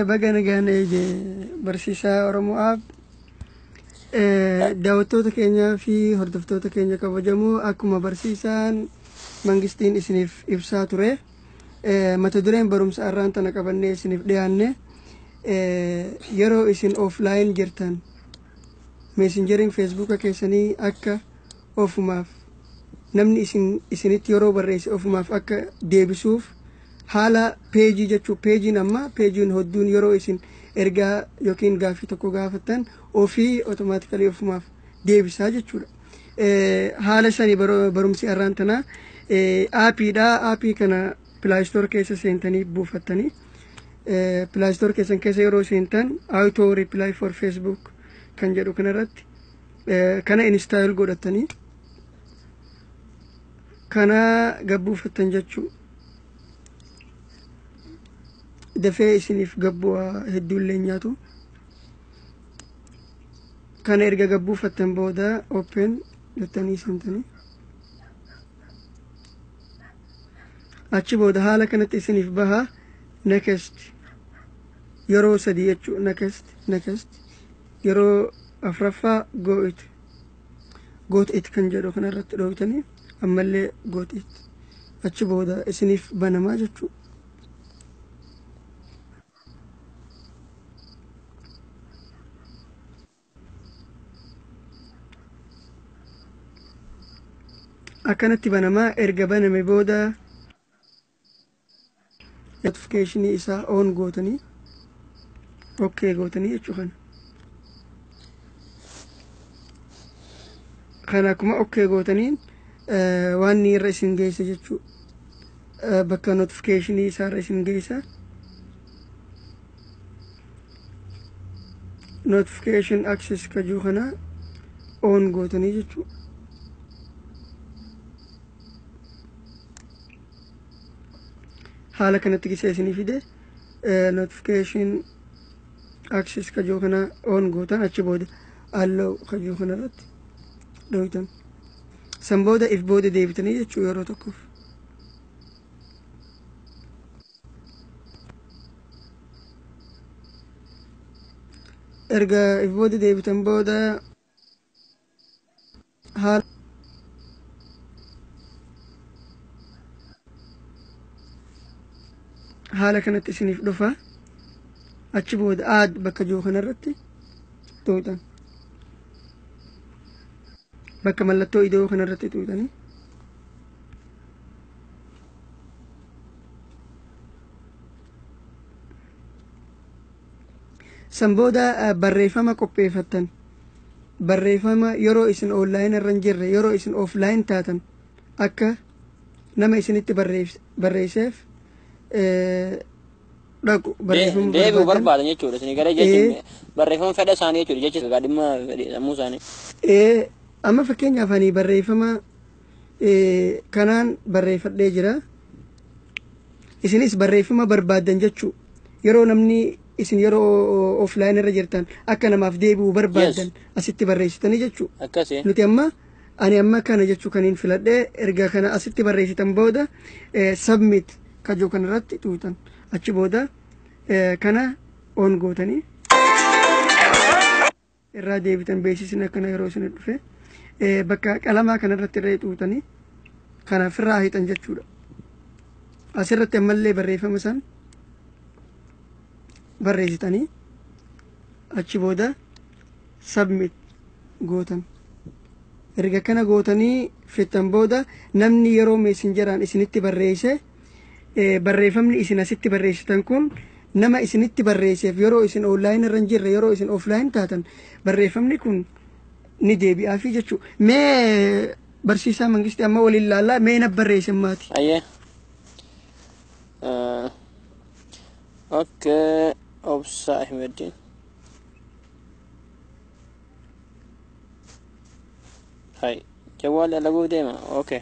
Baga nagaan eege barsiisaa Oromoo Aab. Daawwattoota keenyaa fi hordoftoota keenya kabajamoo akkuma barsiisaan mangistiin isiniif ibsaa ture. Mata dureen barumsa arraan tana qabannee isiniif dhiyaanne yeroo isin offline jirtan meesinjeriin feesbuuka keessanii akka ofumaaf namni isinitti yeroo barreesse ofumaaf akka deebisuuf haala peejii jechuun peejiin amma peejiin hodduun yeroo isin ergaa yookiin gaaffii tokko gaafattan ofii otomaatikali ofumaaf deebisaa jechuudha. Haala sanii barumsi arraan tanaa aapiidha. Aapii kana pilaayistoor keessa seentanii buufattanii pilaayistoor keessan keessa yeroo seentan auto reply for facebook kan jedhu kanarratti kana instaayil godhattanii kana gabbuufattan jechuudha. dafee isiniif gabbu'aa hedduullee nyaatu kana erga gabbuufattan booda open jettanii santanii achi booda haala kanatti isiniif baha next yeroo sadii jechuu next next yeroo afraffaa go it goot it kan jedhu kana irratti dhoofitanii ammallee goot it achi booda isiniif banamaa jechuu akkanatti banamaa erga baname booda notification isaa on gootanii okay gootanii jechuu kana kana akkuma okay gootanii eh, waan inni irra isin geessa jechuu eh, bakka notification isaa irra isin geessa notification access kajuu kana on gootanii jechuu haala kanatti gisee isinii fide notification access kajoo kana on gootan achi booda allow kajoo kana irratti dhooytan san booda if booda deebitanii jechuu yeroo tokkoof erga if booda deebitan booda haala haala kanatti isiniif dhufa achi booda aad bakka jiru kanarratti xuuxan bakka mallattoo idoo kanarratti xuuxanii San booda barreeffama qopheeffattan barreeffama yeroo isin online irra hin jirre yeroo isin offline taatan akka nama isinitti barreesseef dhaqu barreeffama deebi'u barbaadan jechuudha isin gara jechuun barreeffama fedha isaanii jechuudha jecha egaa dhimma sammuu isaanii. Amma fakkeenyaaf ani barreeffama kanaan barreeffadhee jira isinis barreeffama barbaaddan jechuu yeroo namni isin yeroo offline irra jirtan akka namaaf deebi'u barbaaddan asitti barreessitanii jechuu akkasi nuti amma ani amma kana jechuu kan hin filadhe erga kana asitti barreessitan booda submit kajoo kana irratti tuutan achi booda kana on gootanii irraa deebitan beeksisni akkana yeroo isin dhufe eh, bakka qalamaa kanarratti irra xuuxanii kana firraa hiixan jechuudha. Asirratti ammallee barreeffama san barreessitanii achi booda submit gootan. Erga kana gootanii fixxan booda namni yeroo meesinjaraan isinitti barreesse Eh, barreeffamni isin asitti barreessitan kun nama isinitti barreesseef yeroo isin online irra hin jirre yeroo isin offline taatan barreeffamni kun ni deebi'aafii jechuu mee barsiisaa mangisti amma waliin laallaa mee na barreessin maati Ayyee. Eh, Okay. Obsa Ahmedin. Hai. Jawwal alaguu deema. Okay.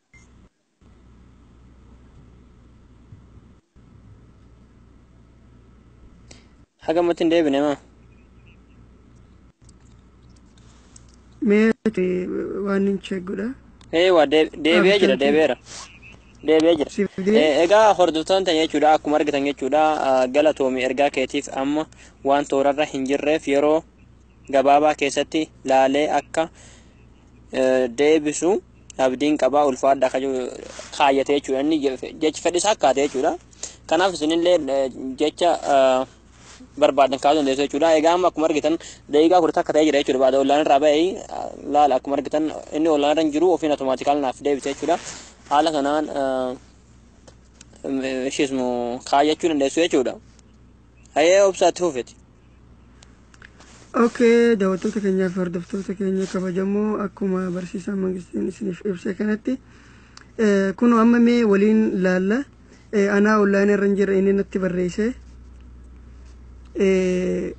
Haga matti hin deebine maa? Mee ati waan hin cheegudha. Ee waa deeb- deebi'ee jira Abdii. deebi'eera. Deebi'ee jira. Siif Eh, deebi. Egaa hordoftoonni ta'an jechuudha akkuma argitan jechuudha ah, galatoomi ergaa keetiif amma waan toorarra hin jirreef yeroo gabaabaa keessatti laalee akka eh, deebisu abdiin qabaa ulfaadha akka jiru kaayyate jechuudha inni jechi fedhis akkaate jechuudha kanaaf isinillee jecha barbaadan kaasuu dandeessu jechuudha egaa amma akkuma argitan daqiiqaa kudha takka ta'ee jira jechuudha baada ollaan irraa ba'ee laala akkuma argitan inni ollaan irra hin jiru ofiin atomaatikaal naaf deebise jechuudha haala kanaan ishiismu kaayyachuu dandeessu jechuudha hayee obsaatti hufeti Okay, daawwattoota keenyaa fi hordoftoota keenya kabajamoo akkuma barsiisaa mangistiin isiniif ibse kanatti eh, kun amma mee waliin laalla eh, anaa online irra hin jirre inni natti barreesse eh,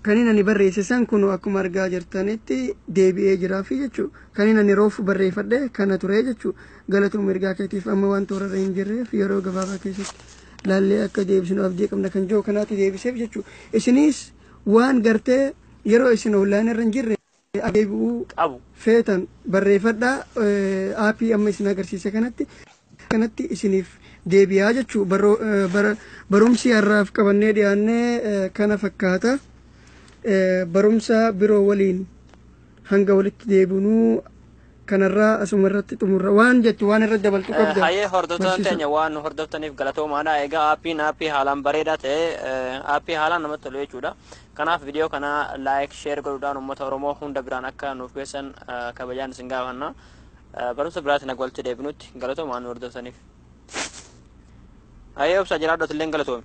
kanin ani barreesse san kun akkuma argaa jirtanitti deebi'ee jiraa fi jechuu kanin ani roof barreeffadhe kana ture jechuu galatoom ergaa keetiif amma waan toorarra hin jirreef yeroo gabaabaa keessatti laallee akka deebisnu abdii qabna kan jiru kanaatu deebiseef jechuudha. Isinis waan gartee yeroo isin online irra hin jirre deebi'uu qabu feetan barreeffadhaa aappii amma isin agarsiise kanatti kanatti isiniif deebi'aa jechuu barumsi har'aaf qabannee dhiyaannee kana fakkaata barumsa biroo waliin hanga walitti deebinuu kanarraa asuma irratti xumurra waan jettu waan irratti dabaltu qabda Hayee hordoftoota barsiisa teenya waan nu hordoftaniif galatoomaadha. Egaa aappiin aappii haalaan bareedaa ta'e eh, aappii haalaan namatti tolu jechuudha. Kanaaf viidiyoo kana laayik sheer godhuudhaan uummata Oromoo hunda biraan akka nuuf geessan eh, kabajaan isin gaafanna. Eh, Barumsa biraatiin akka walitti deebinutti galatoomaa nu hordoftaniif. Hayee obsa jiraadhu atilleen galatoomi.